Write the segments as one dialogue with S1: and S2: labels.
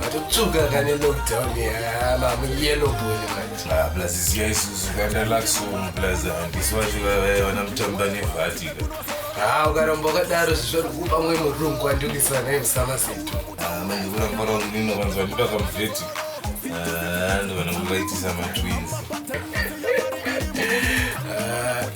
S1: Matotsvuka kane lockdown yaana muyellow boy manje. Ah, plus ziya isusu
S2: kandalaxo plus handisi vacho vavaya vana mutamba nevhatika. Ah, ukaramba
S1: wakadaro zvisvori kupa mwe murungu andikisa naye musama setu. Ah, manje kuramba
S2: rao ndino vanzi vandipa kamuvheti. Ah, ndovanangu vaitisa matwins.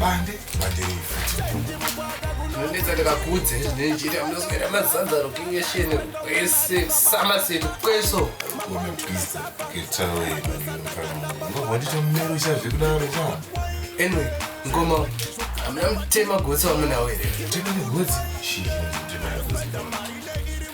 S1: bande bande ndinonetsa ndikakudze ndinenjira ndinozoita mazanzaro kingesheni kwese samaseto kweso wamapisa
S2: ketawe vandiita mumero chazve kudaro cha anyway
S1: ngoma hamuna mutema gotsi wamunawo here mutema negotsi
S2: shii mutema negotsi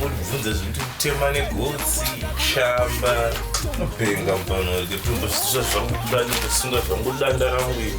S2: munobvunza zvekuti kutema negotsi shamba unopenga mupano wake tinombosvisa zvangu kudani kusunga zvangu danda rangu iri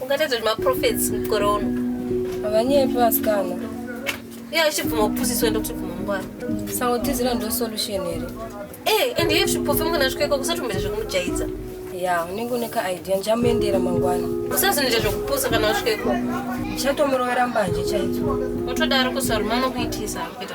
S3: ungatadza kuti maprofets
S4: mukore uno havanyepi
S3: vasikana iye
S4: achibvuma kupusiswa ndokutibvuma mungwara saka kutizira ndo
S3: solution here ee eh, ende iye zvipofe mukana
S4: zvikoiko kusatombeta zvekumujaidza ya unenge
S3: une kaidea ndichamuendera mangwana usazinoita zvekupusa
S4: kana usvikepo ndichatomurovera
S3: mbanje chaidzo utodaro kusaruma
S4: anokuitisa kuita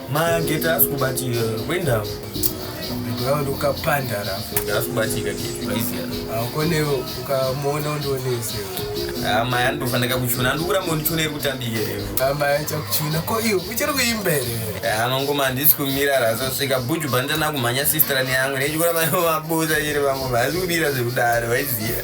S5: mageta
S1: asi kubatika kwendau ndava
S5: ndokapandara asi kubatika
S1: kone
S5: ukamuona undionese amai
S1: andofanira kuchuna andikuramba undichuna iri kutambike rero amai achakuchuna ko
S5: iyo uchiri kuimbere anongoma handisi
S1: kumira rasasvika buju bandana kumhanya sistra neyangu nechikuramba mabuza chiri vamwe vaasi kumira zvekudaro vaiziva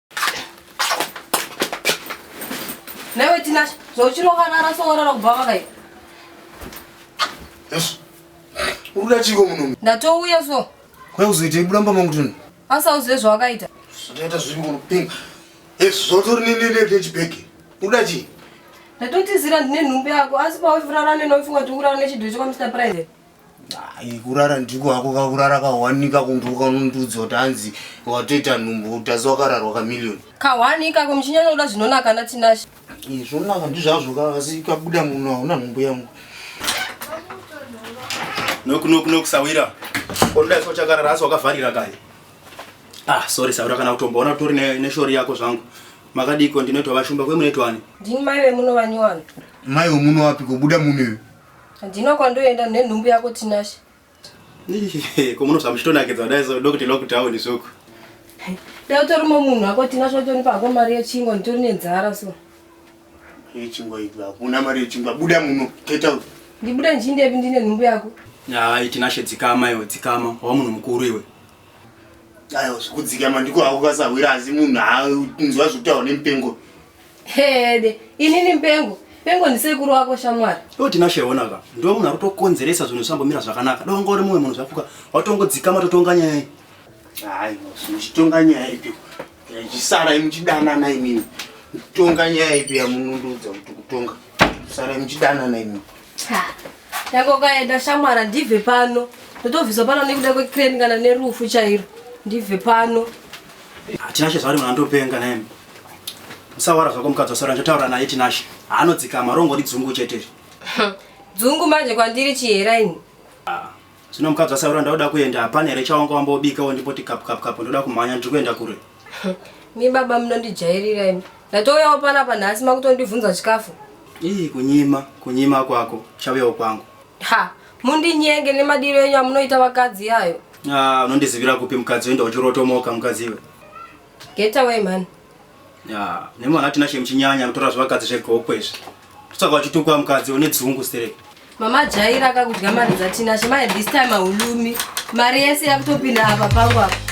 S3: Newe Tinashe, zvauchirovarara sowarara kubva vakaita. Yes.
S6: Uruda chiko munomu. Ndatouya so.
S3: Kwa uzoita ibulamba
S6: mangutuni. Asa uzive zvawakaita.
S3: Zvakaita zviri
S6: kunopinga. Yes, zvotori nini nende chibheki. Uruda chi? Ndatotizira
S3: ndine nhumbi yako asi pawe furara neno ufunga kuti urara nechidhucho kwa Mr. President. Ai, kurara
S6: ndiko hako kakurara kahwanika kundu ukanondudza kuti hanzi watoita nhumbu utazi wakararwa kamiliyoni Kahwani ikako
S3: muchinyanya kuda zvinonaka na Tinashe. Ii, zvonaka
S6: ndizvazvo ka asi kabuda muno hauna nhumbu yangu
S7: Noku noku noku sawira. Konda iso chakarara asi wakavharira kai. Ah, sorry sawira kana kutomboona kutori ne, ne shori yako zvangu. Makadiko ndinoitwa vashumba kwe munoitwani. Ndini mai vemuno
S3: vanyowani. mai wemuno
S6: wapi kobuda muno iwe Handina
S3: kwandoenda nenhumbu yako Tinashe.
S7: Ko munobva muchitonakidza kudai so ndokuti lockdown zvoko. Dai
S3: utori munhu wako Tinashe watonipa hako mari yechingwa nditori nenzara so. Yechingwa
S6: idzi hakuna mari yechingwa buda muno get out. Ndibuda ndichindepi
S3: ndine nhumbu yako? Hayi Tinashe
S7: dzikama iwe dzikama wava munhu mukuru iwe.
S6: Ayo zvikudzikama ndiko hako kasahwira asi munhu haunzwa zvekutaura nemupengo. Hede,
S3: inini mpengo. Pengo ndisekuru wako shamwari. Yo tinashe ona ka.
S7: Ndiwe munhu akutokonzeresa zvinhu zvambomira zvakanaka. Dai wanga uri mumwe munhu zvafuka. Watongodzikama totonga nyaya iyi. Hayi,
S6: muchitonga nyaya ipi? Yachisara imuchidanana imini. Mutonga nyaya ipi yamununduudza kuti kutonga? Sara imuchidanana imini. Ha.
S3: Yako kaenda shamwara ndibve pano. Ndotobviswa pano nekuda kwecrane kana nerufu chairo. Ndibve pano. Hatina
S7: chezvaari mwana ndopenga naye. Usawara zvako mukadzi wasora ndotaura naye Tinashe. Haanodzikama rongori dzungu chete. Dzungu
S3: manje kwandiri chihera ini. Ah. Zvino
S7: mukadzi wasaura ndauda kuenda hapana here chawanga wambobika wo ndipoti kapu kapu kapu ndoda kumhanya ndiri kuenda kure. Mi
S3: baba munondijairira imi. Ndatouyawo pana panhasi makutondivhunza chikafu. Ii kunyima
S7: kunyima kwako chauyawo kwangu. Ha mundinyenge
S3: nemadiro enyu amunoita vakadzi yayo. Ah unondizivira
S7: kupi mukadzi wenda uchirotomoka mukadzi iwe. Get away
S3: man. Ya, nemi
S7: vana tina shame chinyanya kutora zvivakadzi zvegoko izvi. Kutsvaka wachitukwa mukadzi une dzungu stereki. Mama jaira
S3: akakudya mari dzatina shema at this time ahulumi. Mari yese yakutopinda apa pangu apa.